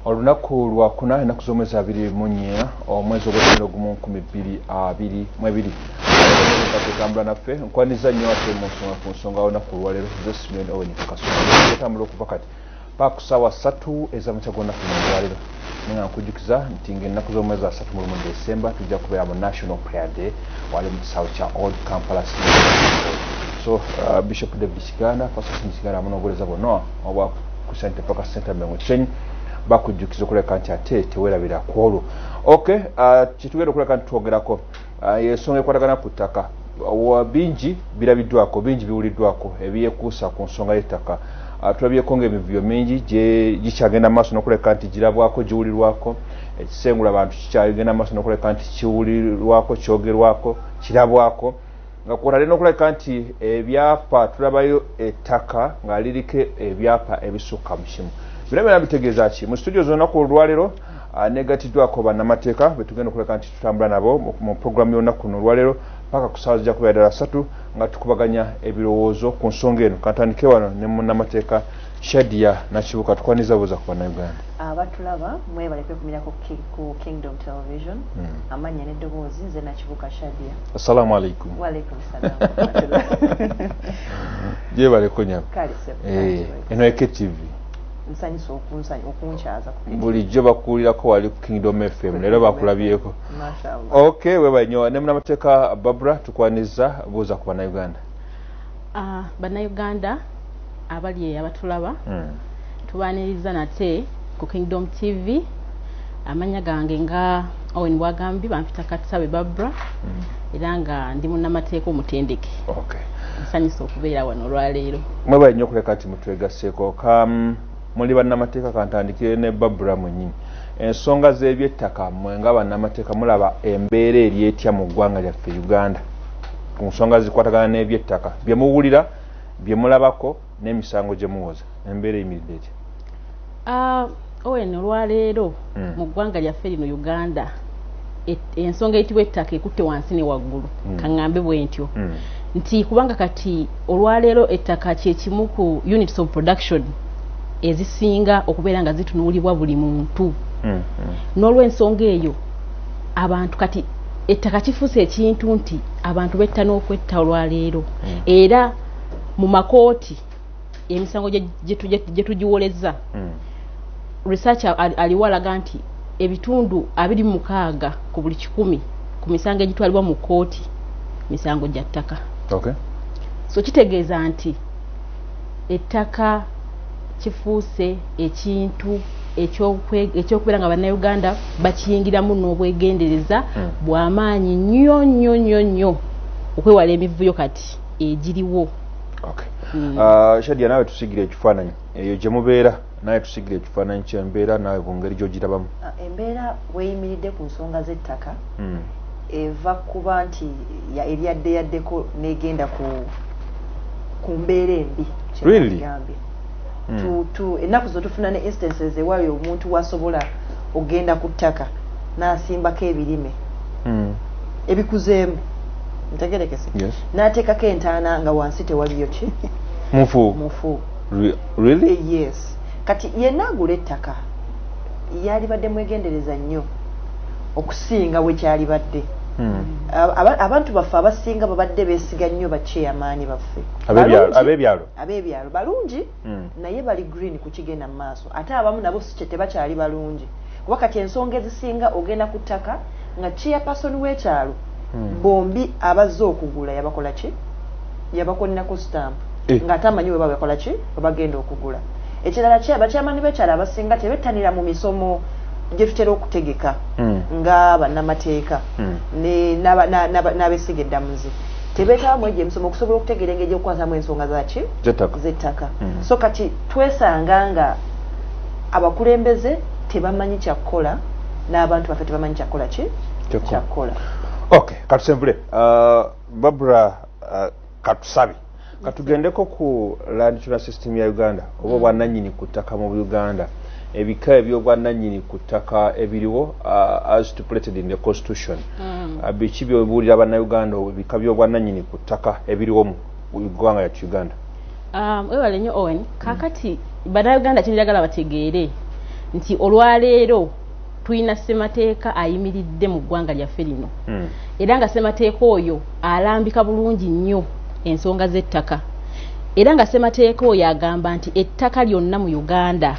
olunaku lwakuna enaku z'omwezi abiri mu nnya omwezi ogw'omwenda ogumu nkumi bbiri abiri mwebiri atambula naffe nkwaniza nnyo ate munsonga ku nsonga awona ku lwaleero ze simeon owen kasotambula okuva kati paka ku saawa satu ezamakya gonaku mulwaleero naye nga nkujjukiza nti ngaennaku z'omwezi asatu mu lumu desemba tujja kubeera mu national prayer day wali mu kisaawe kya old kampala so uh, bishop david kiganda pasasini kiganda amu n'obuwereza bwonna obwa kusente paka senta mengo kisenyi bakujjukiza okuleka nti ate tewerabira ku olwo ok uh, kyetugenda okuleka nti twogerako Ah, ensonga ekwatagana ku ttaka bingi birabiddwako bingi biwuliddwako ebyekuusa ku nsonga y'ettaka ah, tulabyeko nga emivuyo mingi gikyagenda maaso nokuleka nti girabwako giwulirwako ekisengula bantu kikyagenda maaso nokuleka nti kiwulirwako kyogerwako kirabwako nga kwotadde nokuleka nti ebyapa tulabayo ettaka nga liriko ebyapa ebisukka mu kimu bino byona bitegeeza ki mu situdio zonaku olwalero anegatiddwako bannamateeka betugenda okuleka nti tutambula nabo mu puroguramu y'olunaku kuno olwaleero paka ku saawa zijakubeera ddala satu nga tukubaganya ebirowoozo ku nsonga eno kantandike wano ne munnamateeka shadia nakibuka tukwaniza buuza ku bannayuganda abatulaba mwebale kwekumira ku kingdom television hmm. amannya n'eddoboozi nze nakibuka shadia assalamu alaikum waalaikum salam gyebale kunyaba eh, eno eke tv nsanyusa okunsanya okunkyaza bulijjo bakuwulirako wali ku kingdom fm leero bakulabyeko ok weba nyo ne munamateeka babra tukwaniza buuza ku bannayuganda ah, bannayuganda abali abatulaba hmm. tubaniriza nate ku kingdom tv amanya gange nga owen bwagambi bampita katisabe babra mm. era nga ndi munamateeka omutendeke nsanyusa okubeera wano olwaleero mwebale nyo okuleka nti mutwegaseko kam muli bannamateeka kantandikire ne babra mwenyini ensonga z'ebyettaka mwe nga bannamateeka mulaba embeera eri etya mu ggwanga lyaffe uganda ku nsonga zikwatagana n'ebyettaka bye muwulira bye mulabako n'emisango gye muwoza embeera eyimiridde etya ah, owen olwaleero hmm. mu ggwanga lyaffe lino uganda ensonga eyitibwa ettaka ekutte wansi ne waggulu hmm. kaŋŋambe bwe ntyo hmm. nti kubanga kati olwaleero ettaka kyekimu ku units of production ezisinga okubeera nga zitunuulibwa buli muntu n'olwensonga eyo abantu kati ettaka kifuuse ekintu nti abantu betta n'okwetta olwaleero era mu makooti emisango gye tugiwolezza hmm. research aliwo alaga nti ebitundu abiri mukaaga ku buli kikumi ku misango egitwalibwa mu kkooti misango gya ttaka so kitegeeza nti ettaka kifuuse ekintu ekyokubeera nga bannayuganda bakiyingiramu n'obwegendereza hmm. bw'amaanyi nnyo nnyo nnyo nnyo okwewala emivuyo kati egiriwo okay. mm. uh, shadia nawe tusigira ekifaananyi eyo gye mubeera naye tusigira ekifaananyi kyembeera nawe bungeri gyogirabamu ah, embeera weyimiridde ku nsonga z'ettaka mm. eva kuba nti eryadde yaddeko negenda ku mbeera embi really? hmm. tu tu enaku zo tufuna ne instances ewayo omuntu wasobola ogenda ku ttaka nasimbako ebirime hmm. ebikuzeemu ntegerekese yes. nateekako entaana nga wansi tewaliyo ki mufu mufu Re really eh, yes kati yenna agula ettaka yalibadde mwegendereza nnyo okusinga wekyalibadde Hmm. abantu baffe abasinga babadde besiga nnyo bakyeyamaani baffe abebyalo abebyalo balungi mm. naye bali green kukigenda mu maaso ate abamu nabo sikye tebakyali balungi kuba kati ensonga ezisinga ogenda ku ttaka nga chairperson w'ekyalo mm. bombi abazze okugula yabakola ki yabakolinako stamp eh. nga ate amanyi weba bakola ki webagenda okugula ekirala kye bakyamani b'ekyalo abasinga tebettanira mu misomo gyetutera okutegeka mm. nga bannamateeka mm. n'abesiga eddamuzi tebetaba mwegyo emisomo okusobola okutegeera engeri gyokukwasamu ensonga zaki zettaka hmm. so kati twesanga nga abakulembeze tebamanyi kyakukola n'abantu baffe tebamanyi kyakukola ki kyakukola ok katusembule uh, babra uh, katusabe katugendeko ku land tuna system ya uganda oba mm. obwananyini ku ttaka mu uganda ebika ebyobwananyini ku ttaka ebiriwo uh, as stipulated in the constitution mm. uh, biki byobuulira banauganda ebika byobwananyini ku ttaka ebiriwo mu ggwanga yatu uganda um, webale nyo owen kakati mm. banauganda kyenjagala bategeere nti olwaleero tulina ssemateeka ayimiridde mu ggwanga lyaffe lino hmm. era nga ssemateeka oyo alambika bulungi nnyo ensonga z'ettaka era nga ssemateeka oyo agamba nti ettaka lyonna mu uganda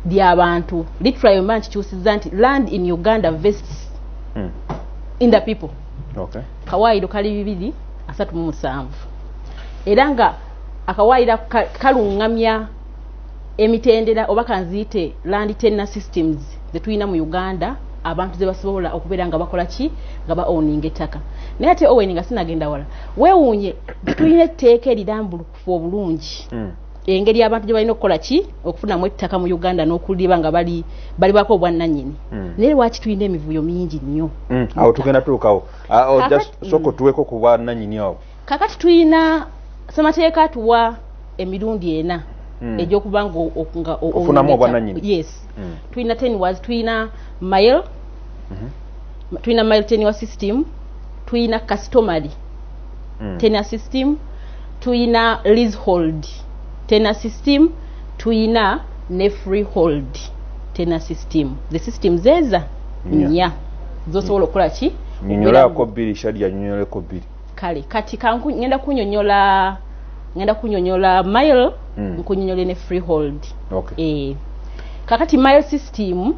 lya bantu literally mba nkikyusiza nti land in uganda vests hmm. in the people kawaayiro kali bibiri asatu mu musanvu era nga akawaayiro kaluŋŋamya emitendera oba kanziyite land tenner systems zetulina mu uganda abantu ze basobola okubeera nga bakola ki nga ba owninga ettaka naye ate owen nga sinagenda wala weewuunye tulina etteeka erirambulukufu obulungi hmm. engeri abantu gye balina okukola ki okufunamu ettaka mu uganda n'okuliba nga bali balibako obwannanyini hmm. naye lwaki tulina emivuyo mingi nnyo hmm. awo tugenda tuukawo ah, oh, sooka otuweko ku bwannanyini awo kakati tulina semateeka tuwa emirundi ena hmm. egyokuba ngaofunamuobwananyinyes hmm. tulina ten was tulina mile mhm. tulina mile ten wa system tulina customary hmm. ten a system tulina leasehold ten a system tulina ne freehold ten a system the system zeza nya zosobola okukola ki nyonyolako bbiri shadi yanyonyoleko bbiri kale kati ngenda kunyonyola ngenda kunyonyola mile mm. nkunyonyole ne freehold okay. e. kakati mile system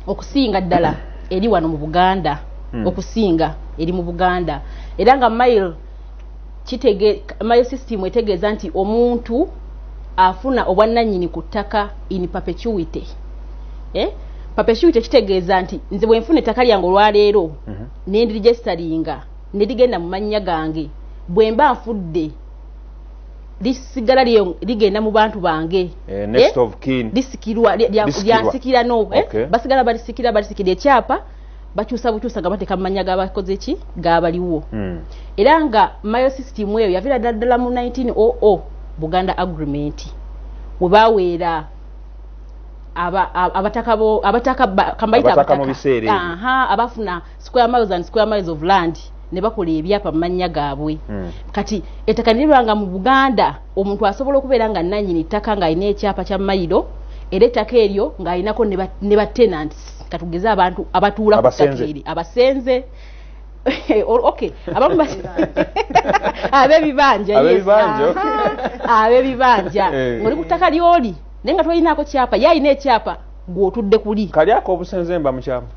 okusinga ddala eri wano mu buganda mm. okusinga eri mu buganda era nga mile kitege mile system etegeeza nti omuntu afuna obwannanyini ku ttaka in perpetuity eh? perpetuity kitegeeza nti nze bwenfuna ettaka lyange olwaleero mm -hmm. nendirijestaringa ne ligenda mu mannya gange bwe mba nfudde lisigala ligenda mu bantu bange eh, eh? lisikirwa lyansikira no eh? basigala balisikira balisikira ekyapa bakyusa bukyusa nga bateeka mu mannya gabakoze ki gaabaliwo hmm. era nga mayo system eyo yaviira ddaddala mu 1900 buganda agreement we baweera abataka abataka kambayita abataka abafuna square miles and square miles of land ne bakola ebyapa mu mannya gaabwe hmm. kati ettaka niriba nga mu buganda omuntu asobola okubeera nga nanyini ttaka ng'alina ekyapa kya mayiro era ettaka eryo ng'alinako ne ba tenants katugeze abantu abatuula ku ttaka eri abasenze okay abamu basi abebibanja abebibanja abebibanja ngoli kutaka lyoli nenga toyinako kyapa yayina ekyapa gwe otudde kuli kali akobusenze mba mukyamu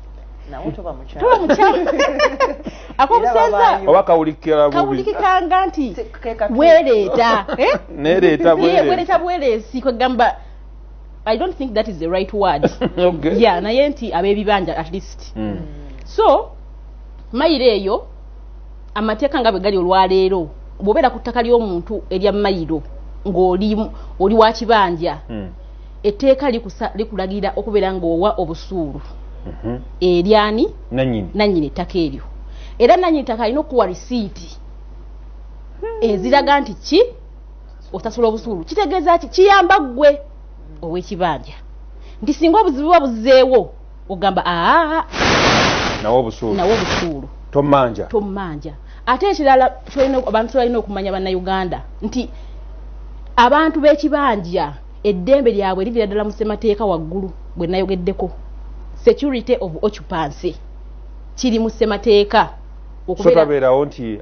oba kawulikira bubikanga nti wereeta eh? nereeta bwereeta bweresi kwegamba i don't think that is the right word okay. yeah naye nti abebibanja at least mm. so mayiro eyo amateeka nga bwe gali olwaleero bwobeera ku ttaka ly'omuntu erya mayiro ng'oli wa kibanja mm. etteeka likulagira okubeera ng'owa obusuulu mhm. eryani nannyini ettaka eryo era nannyini ttaka alina okukuwa risiiti hmm. eziraga nti ki osasula obusuulu kitegeeza ki kiyamba ggwe ow'ekibanja nti singa obuzibu buba buzzeewo ogamba aa nawe obusuulu tomanja tomanja ate ekirala abantu balina okumanya bannayuganda nti abantu b'ekibanja eddembe lyabwe livira ddala mu ssemateeka waggulu bwe nayogeddeko security of occupancy kiri mu ssemateeka sotabeerawo nti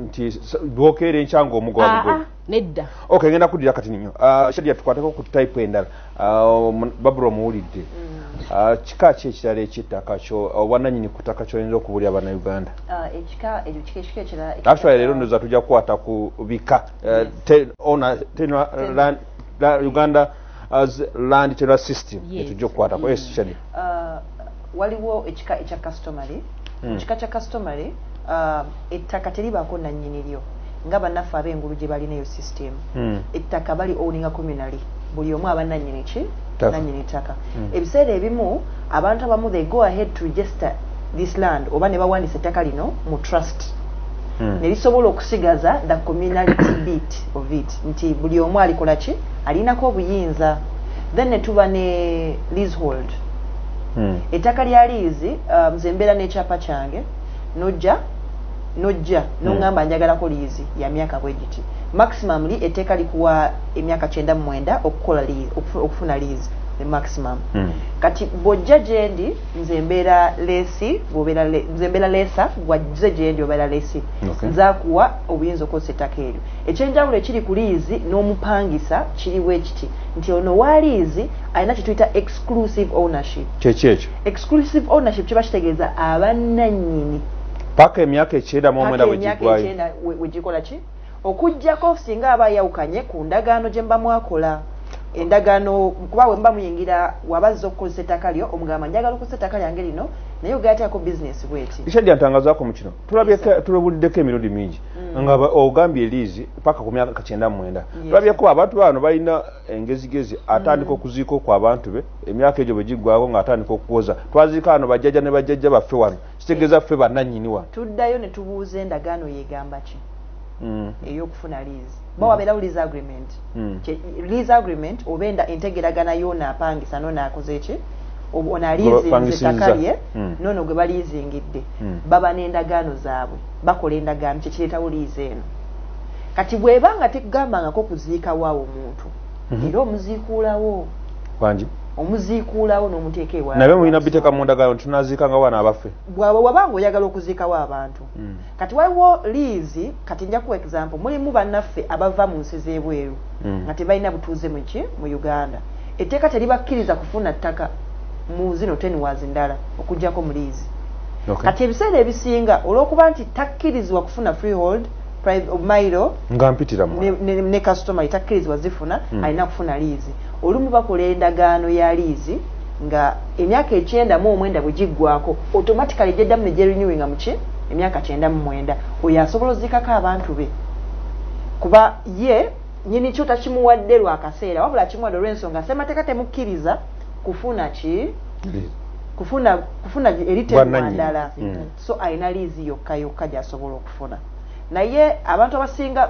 nti dwokeera enkya nga omugwagugwe nedda ok ngenda kuddira kati ninyo shadia tukwateko ku type endala babula omuwulidde mm. kika ki ekirala ekyettaka kyo obwananyini ku ttaka kyoyinza okubulya banauganda actually leero ndoza tujja kukwata ku bika uh, te- owner- tenure land- la- uganda as land tenure system Yes. yetujja okukwatako yes shadi Ah, waliwo ekika ekya customary Mm. mu kika kya customary ah, ettaka teribaako nannyini lyo nga bannaffe ab'engulu gye balina eyo system Mm. ettaka bali owninga communally buli omu aba nannyini ki nanyini ttaka hmm. ebiseera ebimu abantu abamu they go ahead to register this land oba ne bawandisa ettaka lino mu trust hmm. ne lisobola okusigaza the communality bit of it nti buli omu alikola ki alinako obuyinza then ne tuba ne leasehold hmm. ettaka lya liizi um, nze mbeera n'ekyapa kyange nojja nojja hmm. nongamba njagalako liizi ya myaka bwe giti maximum li etteeka likuwa emyaka kyenda mu mwenda okukola okufuna liizi ne maximum hmm. kati bwojja gyendi nze mbeera leesi nze mbeera leesa gwazze gyendi obeera leesi nzakuwa obuyinza okukozesa ettaka eryo ekyenjawulo ekiri ku liizi n'omupangisa kiriwo ekiti nti ono wa liizi alina kyetuyita exclusive ownership kyekyo ekyo exclusive ownership kiba kitegeeza abananyini paka emyaka ekyenda mu omwenda wegigwayo ki okujjako singa aba ayawukanye ku ndagaano gye mba mwakola endagaano kuba we muba muyingira waba azza okukozesa ettaka lyo omugamba njagala okukozesa ettaka lyange lino naye ogateako bizinesi bweti isha gyantangazaako mu kino tulabuliddeko emirundi mingi mm. nga ogambye eliizi paka ku myaka kakyenda mwenda tulabyeko abantu bano balina engezigezi atandika mm. okuziika okw abantu be emyaka egyo bwe giggwako ng'atandika okuwoza twaziika ano bajjajja ne bajjajja baffe wano kitegeza ffe bananyini wa tuddayo ne tubuuza endagaano yegamba ki mm. eyokufuna lease mm. bawa belawo lease agreement mm. lease agreement oba enda entegeragana yona apangisa nona akoze ki ono aliizinzetakabye mm. nono gwe baliizingidde mm. baba n'endagaano zaabwe bakola endagaano kyekireetawo liizi eno kati bweba nga tekugambangako kuziika waawo omuntu mhm. era omuziikuulawo wangi omuziikuulawo n'omuteeka ewa nabyo mulina biteeka mu ndagaano tunaziika nga wana abaffe bwaba waba nga oyagala okuziikawo abantu mm. kati waliwo liizi kati nja kuwa example mulimu bannaffe abava mu nsi z'ebweru mm. nga tebalina butuuze muki mu uganda etteeka teribakkiriza kufuna ttaka mu zino tenwazi ndala okugyako mu liizi kati ebiseera ebisinga olw'okuba nti takkirizibwa kufuna freehold mailo nga mpitira mu ne, ne customer itakkirizibwa zifuna mm. alina kufuna liizi olumu bakola endagaano ya liizi nga emyaka ekyenda mu omwenda bwe giggwako automatically gyeddamu ne gyerenewinga muki emyaka kyenda mu mwenda oyo asobola ozikako abantu be kuba ye nyini kyo takimuwadde lwa kaseera wabula akimuwadde olw'ensonga semateeka temukkiriza kufuna ki kufuna kufuna eriteddwa ndala mm. so alina liizi yokka yokka gyasobola okufuna naye abantu abasinga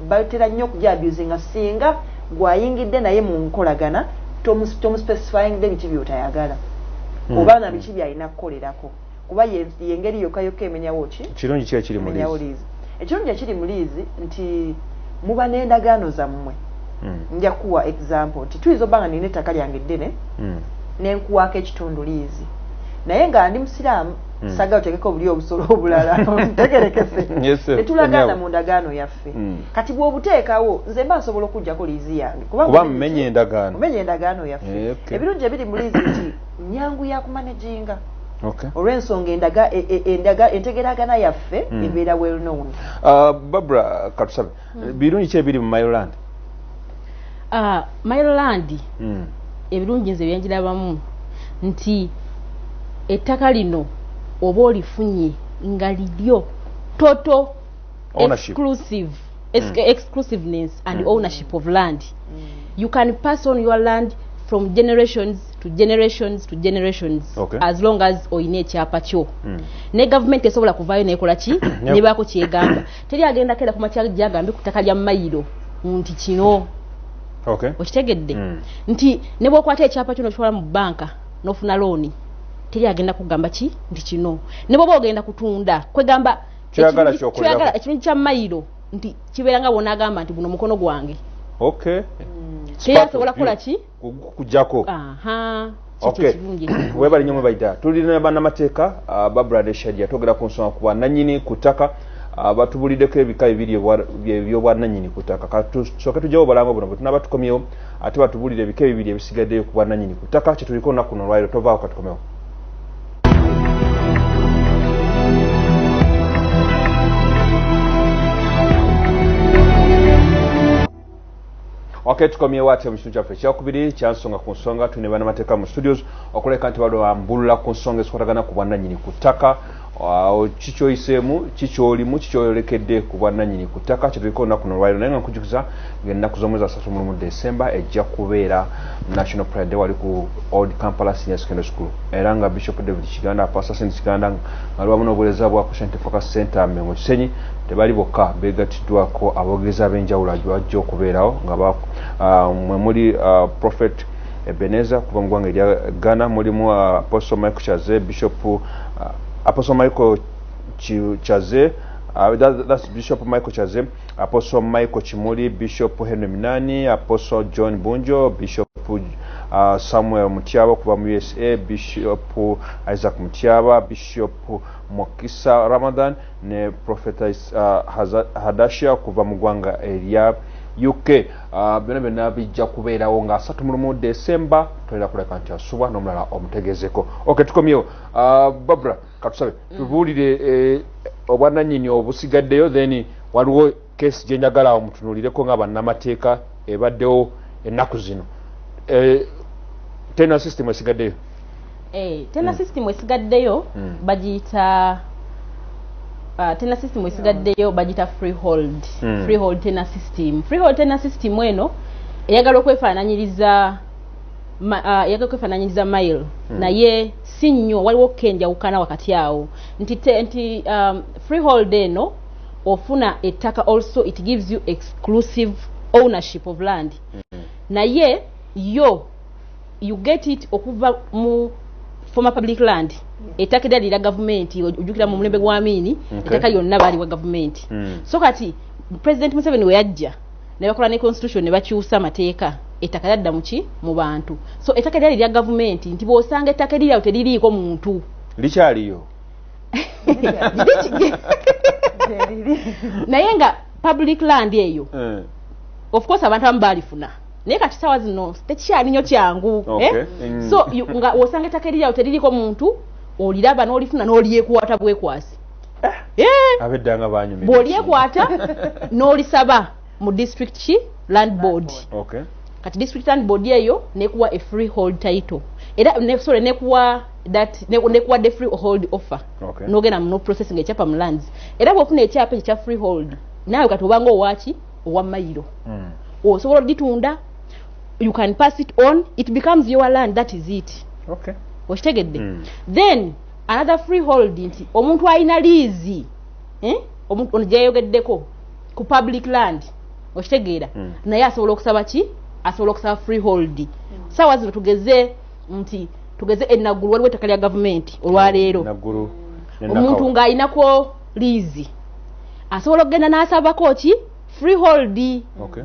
batera nnyo okuja abuse nga singa gwayingidde naye mu nkolagana tomuspecifying de biki byotayagala hmm. oba na biki byalina kukolerako kuba yengeri yokka yokka emenyawo ki kirungi kiba kiri muliizi ekirungi ekiri mu liizi nti muba n'endagaano zammwe hmm. nja kuwa example nti tuyinza obanga nina ettaka lyange eddene hmm. nenkuwaako ekitundu liizi naye nga ndi musiraamu hmm. saga otegeka obuli obusolo obulala tegerekese netulagaana mu ndagaano yaffe kati bwobuteekawo nze mba nsobola okujjako liizi yange kubamumenye endagaano yaffe eh, ebirungi ebiri mu liizi nti nyangu ya kumanaginga okay. olw'ensonga endaga e, e, endaga entegeragana yaffe mm. ebeera well known uh, babra katusabe mm. birungi ki ebiri mu miloland uh, ah, miloland mm. ebirungi nze byenjirabamu nti ettaka lino oba olifunye nga liryo toto exclusive mm. exclusiveness and mm. ownership of land mm. you can pass on your land from generations to generations to generations okay. as long as oyina ekyapa kyo mm. ne government esobola kuvayo nekola ki nebako kyegamba teri agenda kera kuma kyagambe kutaka lya mayiro nti kino okay. okitegedde mm. nti nebwokwata ekyapa kyo nokitwala mu banka nofuna looni teri agenda kugamba ki nti kino nebwoba ogenda kutunda kwegamba kyoyagala kyokolera ekinyonyi kya mailo nti kibeera nga bona agamba nti guno mukono gwange okay mm. kyeyo asobola kukola ki kujako aha webali nyo mwebaita tulina banamateeka uh, babra ne shadia togera ku nsonga kuba nanyini ku ttaka uh, batubulideko ebika ebiri ebyobwananyini ku ttaka katusoke tujawo balanga buno bwetunaba tukomyewo ate batubulire ebika ebibiri ebisigaddeyo ku bwananyini ku ttaka kyetuliko nakuno olwairo tovaako katukomewo okay tukomyewo ate mu kitundu kyaffe ekyakubiri kyansonga ku nsonga tuli ne banamateeka mu studios okuleka nti bali bambulula ku nsonga ezikwatagana ku bwannanyini ku ttaka kikyoyiseemu kikyolimu kikyoyolekedde ku bwannanyini ku ttaka kyetulika olunaku nolwaliro naye nga nkujukiza ngaennaku z'omwezi asatu mulumu december ejja kubeera national pride day wali ku old kampala senior secondary school era nga bishop david kiganda pasta sent kiganda nga liwamu n'obuwereza bwa christian tefoka center mengo kisenyi tebali bokka begattiddwako abogereza ab'enjawulo ajja okubeerawo nga ah, mwe muli ah, prophet ebeneza kuva mu ggwanga erya ghana mulimu ah, apostle michael chaze bishop apostle michael chaze that's bishop michael chaze apostle michael kimuli bishop henry minani apostle john bunjo bishop uh, samuel mutyaba okuva mu usa bishop isaac mutyaba bishop mukisa ramadan ne profeta uh, hadasha okuva mu gwanga erya uk uh, byona byona bijja kubeerawo nga asatu mulumu december tolina kuleka nti asubwa nomulala omutegezeko ok tukomyewo uh, babra katusabe mm. tubuulire eh, obwananyini obusigaddeyo then waliwo kesi gyenjagala awo mutunulireko nga bannamateeka ebaddewo ennaku zino eh, tena system esigaddeyo eh, tena mm. system esigaddeyo mm. bagiyita Uh, tena system esigaddeyo bagita freehold mm. freehold tena system freehold tena system eno eyagala okwefaananyiriza uh, eyagala okwefaananyiriza mile mm. naye si nnyo waliwo ko enjawukana wakati awo nti nti um, freehold eno ofuna ettaka also it gives you exclusive ownership of land mm-hmm. naye yo you get it okuva mu former public land ettaka era lira gavumenti ojukira mu mulembe gwa miini ettaka lyonna baaliwa gavumenti mm. so kati president museveni weyajja ne bakola ne constitution ne bakyusa amateeka ettaka lyadda muki mu bantu so ettaka lyali lya gavumenti nti bw'osanga ettaka eriryawo teririiko muntu likyaliyo naye nga public land eyo eh. of course abantu abamu baalifuna naye kati sawa zino tekikyali nyo kyangu eh? mm. so nga wosanga ettaka eriryawo teririiko muntu oliraba n'olifuna n'olyekwata bwekwasi eh. Eh. abedda nga banyumira bwolyekwata n'olisaba mu district ki land board kati district land board eyo nekuwa a free hold title era sorry nekuwa that nekuwa the free hold offer nogenda mu no process nga ekyapa mu lands era bwofuna ekyapa ekyo kya free hold naawe kati obanga owaki owa mayiro hmm. osobola oditunda you can pass it on it becomes your land that is it okitegedde hmm. then another free hold nti omuntu alina liizi eh? omuntu ono gyeyayogeddeko ku public land okitegeera mm. naye asobola okusaba ki asobola okusaba free hold mm. saawa zino tugeze nti tugeze enaggulu waliwo ettaka lya gavumenti olwaleero hmm. omuntu ng'alinako liizi asobola okugenda n'asabako ki free hold okay.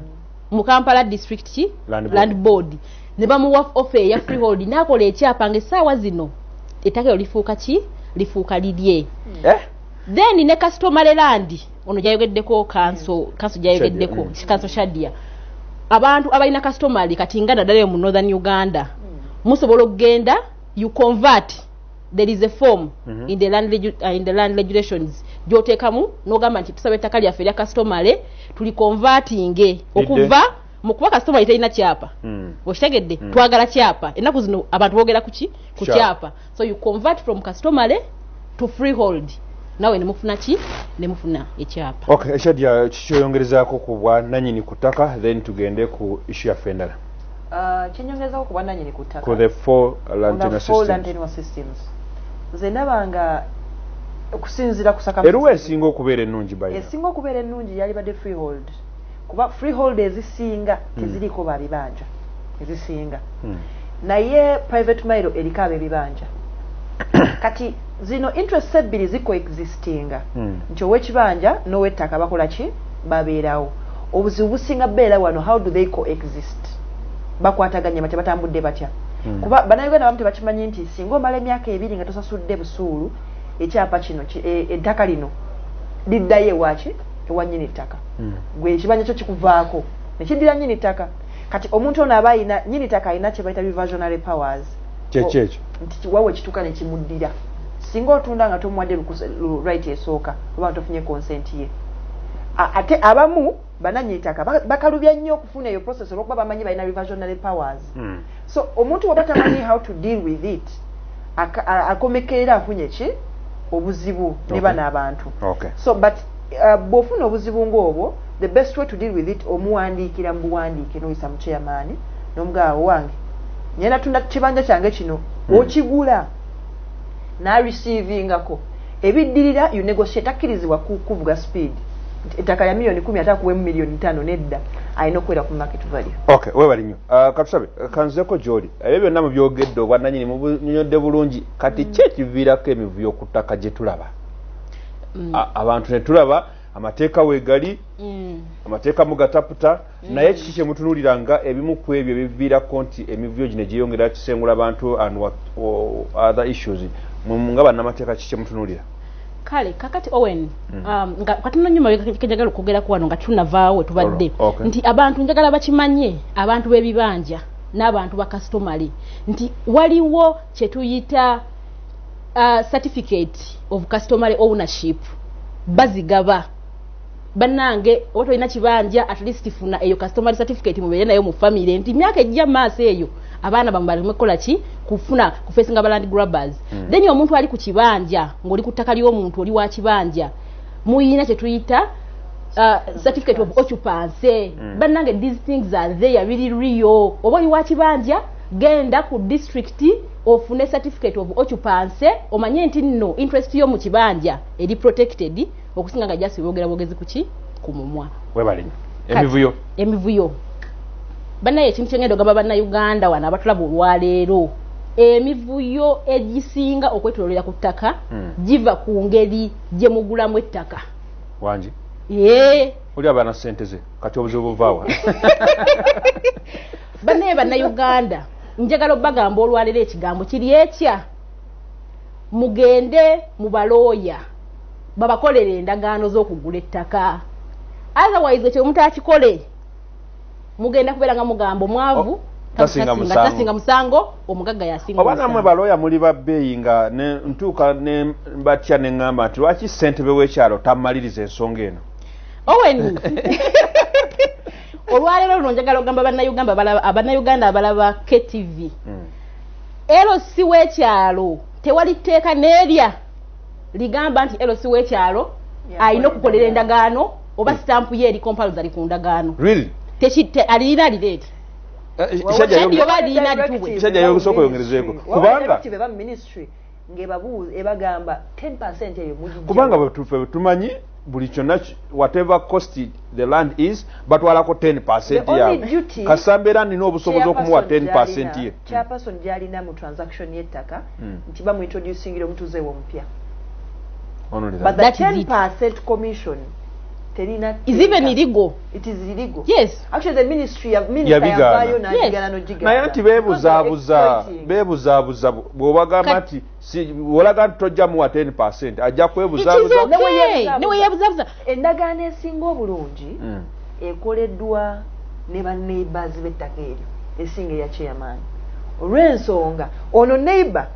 mu kampala district ki land board ne bamuwa ofe eya freehold nakola ekyapa nga esaawa zino ettaka elo lifuuka ki lifuuka lirye eh? then ne kastomale landi ono gyayogeddeko kanso kanso gyayogeddeko mm. kanso shadia abantu abalina kastomale kati nga naddala yo mu northern uganda mm. musobola okugenda you convert there is a form mm -hmm. in the land uh, in the land regulations jotekamu nogamba nti tusabe taka lya feria customary tuli converting e, okuva mukuba customary tayina chapa mm. oshitegedde mm. twagala chapa enaku zino abantu bogera kuki ku chapa so you convert from customary to freehold nawe ne mufuna ki ne mufuna ekyapa okay eshadia kikyoyongerezako ku bwa nanyini kutaka then tugende ku issue ya fendala Ah, kyenyongezawo ku bwananyini ku ttaka nze ndaba nga okusinzira kusaeruwa esinga okubeera ennungi ba esinga okubeera ennungi yalibadde freehold kuba freehold ezisinga hmm. teziriiko babibanja ezisinga hmm. naye private mile eriko abebibanja kati Zino interests ebbiri zi coexistinga nti owekibanja nowettaka bakola ki? Babeerawo. Obuzibu businga beera wano how do they coexist? Bakwataganye batya? Batambudde batya? Kuba banauganda abamu tebakimanyi nti singa omala emyaka ebiri nga tosasudde busuulu ekyapa kino ki e ettaka lino liddayo ewaki? Ewa nyini ttaka. Gwe ekibanja kyo kikuvaako nekiddira nyini ttaka. Kati omuntu ono aba ayina nyini ttaka ayina kyebayita reversionary powers. kyekyo ekyo nti kiwawe kituka ne kimuddira singa otunda nga tomuwadde right esooka oba tofunye consent ye ate abamu bananyi itaka bakalubya nnyo okufuna eyo process olwokuba bamanyi balina reversionary powers mm. so omuntu waba tamanyi how to deal with it akomekeera afunye ki obuzibu ne bana abantu okay. so but Uh, bwofuna obuzibu ngaobwo the best way to deal with it omuwandiikira mubuwandiike noyisa mu chairman nomugaa owange naye natunda kibanja kyange kino hmm. okigula nareceivingako ebiddirira you negotiate akkirizibwa kuvuga speed ettaka lya miliyoni kumi ate akuwemu miliyoni ntano nedda alina okubeera ku market value ok webali nyo uh, katusabe kanzeko gyoli ebyo byonna mubyogedde obwananyini mubunyodde bulungi kati hmm. kyekiviirako emivuyo ku ttaka gyetulaba mm. abantu netulaba amateeka wegali mm. amateeka mugataputa mm. naye kiki kyemutunulira nga ebimu ku ebyo ebiviirako nti emivuyo gino gyeyongera kisengula abantu and what, oh, other issues nga bannamateeka kiki kyemutunulira kale kakati owen mm. um, nga katono nyuma kejagala okugera ku wano nga tunavaawo tubadde okay. nti abantu njagala bakimanye abantu b'ebibanja n'abantu bakasitomale nti waliwo kyetuyita uh, certificate of customary ownership bazigaba banange oba tolina kibanja at least funa eyo customary certificate mubeere nayo mu family nti myaka ejja maaso eyo abaana bamwe balimu kukola ki kufuna kufesinga baland grabbers mm. then omuntu ali ku kibanja ng'oli ku ttaka ly'omuntu oli wa kibanja muyina kye tuyita Uh, certificate of occupancy mm. banange these things are there really real oba oli wakibanja genda ku district ofune certificate of occupancy omanye nti nno interest yo mu kibanja eri protected okusinga nga just boogera bwogezi kuki ku mumwa webalenya emivuyo emivuyo banaye ekintu kyengenda ogamba bannayuganda wano abatulaba olwaleero emivuyo egisinga okwetololera ku ttaka hmm. giva ku ngeri gye mugulamu ettaka wangi ee oli abaana ssente ze kati obuzibu buvaawa banaye bannayuganda njagala obagamba olwalero ekigambo kiri ekya mugende mu balooya babakolera endagaano z'okugula ettaka otherwise ekyo mutakikole mugenda kubeera nga mugamba omwavu oh, tasinga musango omugagga yasingaoba namwe balooya muli babbeeyi nga ntuuka batya ne ŋŋamba nti lwaki ssentebe w'ekyalo tamaliriza ensonga eno oweni olwaleero luno njagala ogamba bannayuganda abalaba ktv hmm. lc w'ekyalo tewali tteeka n'erya ligamba nti lc w'ekyalo alina okukolera endagaano oba hmm. sitampu ye eri kompalza li ku ndagaano alina alireeti eh, eh, kisajja yogusooka oyongerezeeko kubanga ngebabuuza ebagamba 10 percent eyo mujijja kubanga batufe tumanyi buli kyonna whatever cost the land is batwalako 10 percent yawe kasamba era nina obusobozi okumuwa 10 percent ye chairperson hmm. gyalina mu transaction y'ettaka hmm. nti bamuintroducingira omutuuze we omupya but the 10 percent commission terina is even illegal it is illegal yes actually the ministry ya minister ya bayo na jigana no jigana naye anti bebuzabuza bebuzabuza bwobagamba nti si wolaga tojja mu 10% ajja kwebuzabuza ne we ne we yebuzabuza endagana esinga obulungi mm. ekoleddwa ne ba neighbors bettaka eryo esinga ya chairman olw'ensonga ono neighbor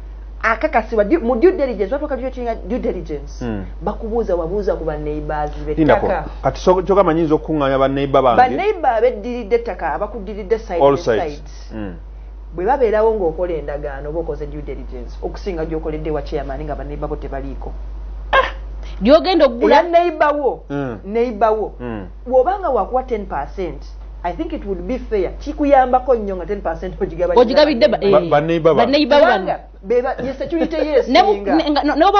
akakasibwa mu due diligence watu wakati yotinga due diligence mm. bakubuza wabuza ku baneighbors betaka kati so choka manyinzo okunganya ba neighbor bange ba neighbor abedilide taka abakudilide side all sides, sides. Mm. bwe babeerawo ng'okola endagaano oba okoze due diligence okusinga gy'okoledde wa chairman nga baneiba bo tebaliiko gyogenda okugula neiba wo neiba wo bwobanga wakuwa 10 percent i think it would be fair kikuyambako nnyo nga 10 percent ogigabiddebanneibabanebwoba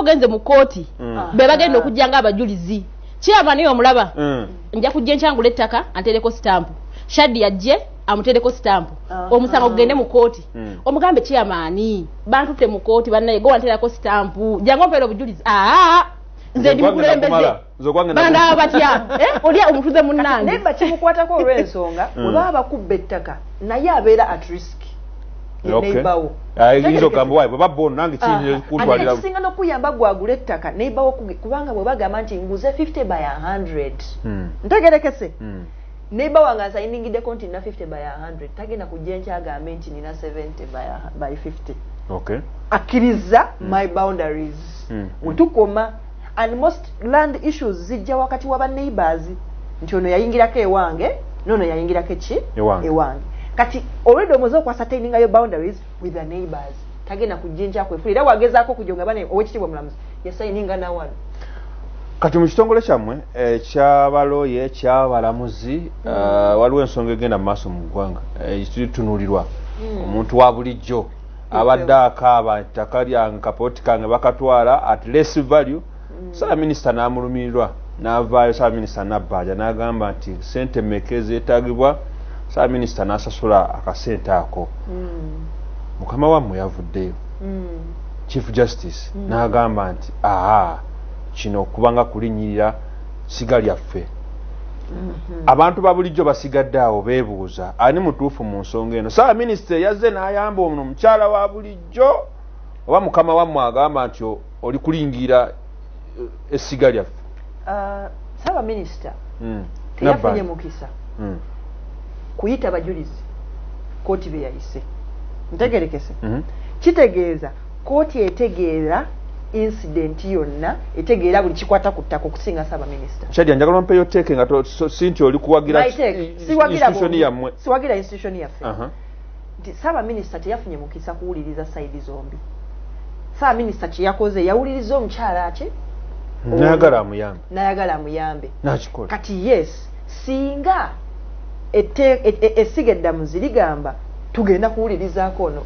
ogenze mu kooti mm. be bagenda ah. okujja nga abajulizi kyava naye omulaba mm. nja kujja enkyangula ettaka antereko sitampu shadi yajje amutereko sitampu ah. omusango gugende mu kooti mm. omugambe kyamaani bantutte mu kooti bannaye gowanterako sitampu jangu ompeera obujulizi aa ah, nze ndi mukulembeze bandaaba batya eh, olya omutuze munnange naye bakimukwatako olw'ensonga hmm. oba abakubba ettaka naye abeera at risk yeneibawo ah, izo gambo waibwe babona nange kiyinzikuntwalira ah, kisinga nokuyamba gwagula ettaka neibawo kubanga bwe bagamba nti nguze 50 by 100 hmm. ntegerekese hmm. neiba wange asayiningiddeko nti nina 50 by 100 tagenda kujja enkyagambe nti nina 70 by 50 akkiriza my boundaries wetukoma and most land issues zijja wakati wa baneighbors nti ono yayingirako ewange nono yayingirako eki ewange kati already omoze okwasa taininga yo boundaries with the neighbors tagenda kujinja kwefula era wagezaako okujo nga bana owekitiibwa mulamuzi yasaininga nawano kati mu kitongole kyammwe ekyabalooye eh, ekyabalamuzi mm. eh, waliwo ensonga egenda mu maaso mu ggwanga eh, etunulirwa mm. omuntu wa bulijjo abadde akaaba ettaka lyange kapooti kange bakatwala at less value mm. saabaminisita n'amulumirirwa n'avaayo saabaminisita nabbanja n'agamba nti sente meka ezeetagibwa saabaminisita n'asasula akasente ako mm. mukama wammwe yavuddeyo mm. chief justice n'agamba nti aa kino okubanga kulinyirira siga lyaffe mhm. abantu babulijjo basigadde awo bebuuza ani mutuufu mu nsonga eno saawa minisita eyazze n'ayamba ono omukyala wa bulijjo oba mukama wammwe agamba nti oli kulingira eh, essiga lyaffe uh, saaba minisita hmm. teyafunye mukisa hmm. kuyita bajulizi kooti beyayise ntegerekese mhm. kitegeeza Kooti etegeera incident yonna etegeera buli kikwata ku ttaka okusinga ssaabaminisita. Shadia njagala ompeyo tteeke nga si nti oli kuwagira institution yammwe. Siwagira institution yaffe. Nti ssaabaminisita teyafunye mukisa kuwuliriza sayidi zombi. Ssaabaminisita kye yakoze yawuliriza omukyala ki? Nayagala amuyambe. Nayagala amuyambe. Nakikola. Kati yes. Singa ette, et, et, essiga eddamuzi ligamba tugenda kuwulirizaako ono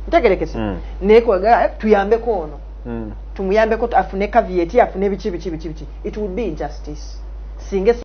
ntegerekese mm. naye kwaga eh, tuyambeko ono mm. tumuyambeko afune kaviyeti afune biki biki biki biki it would be injustice singa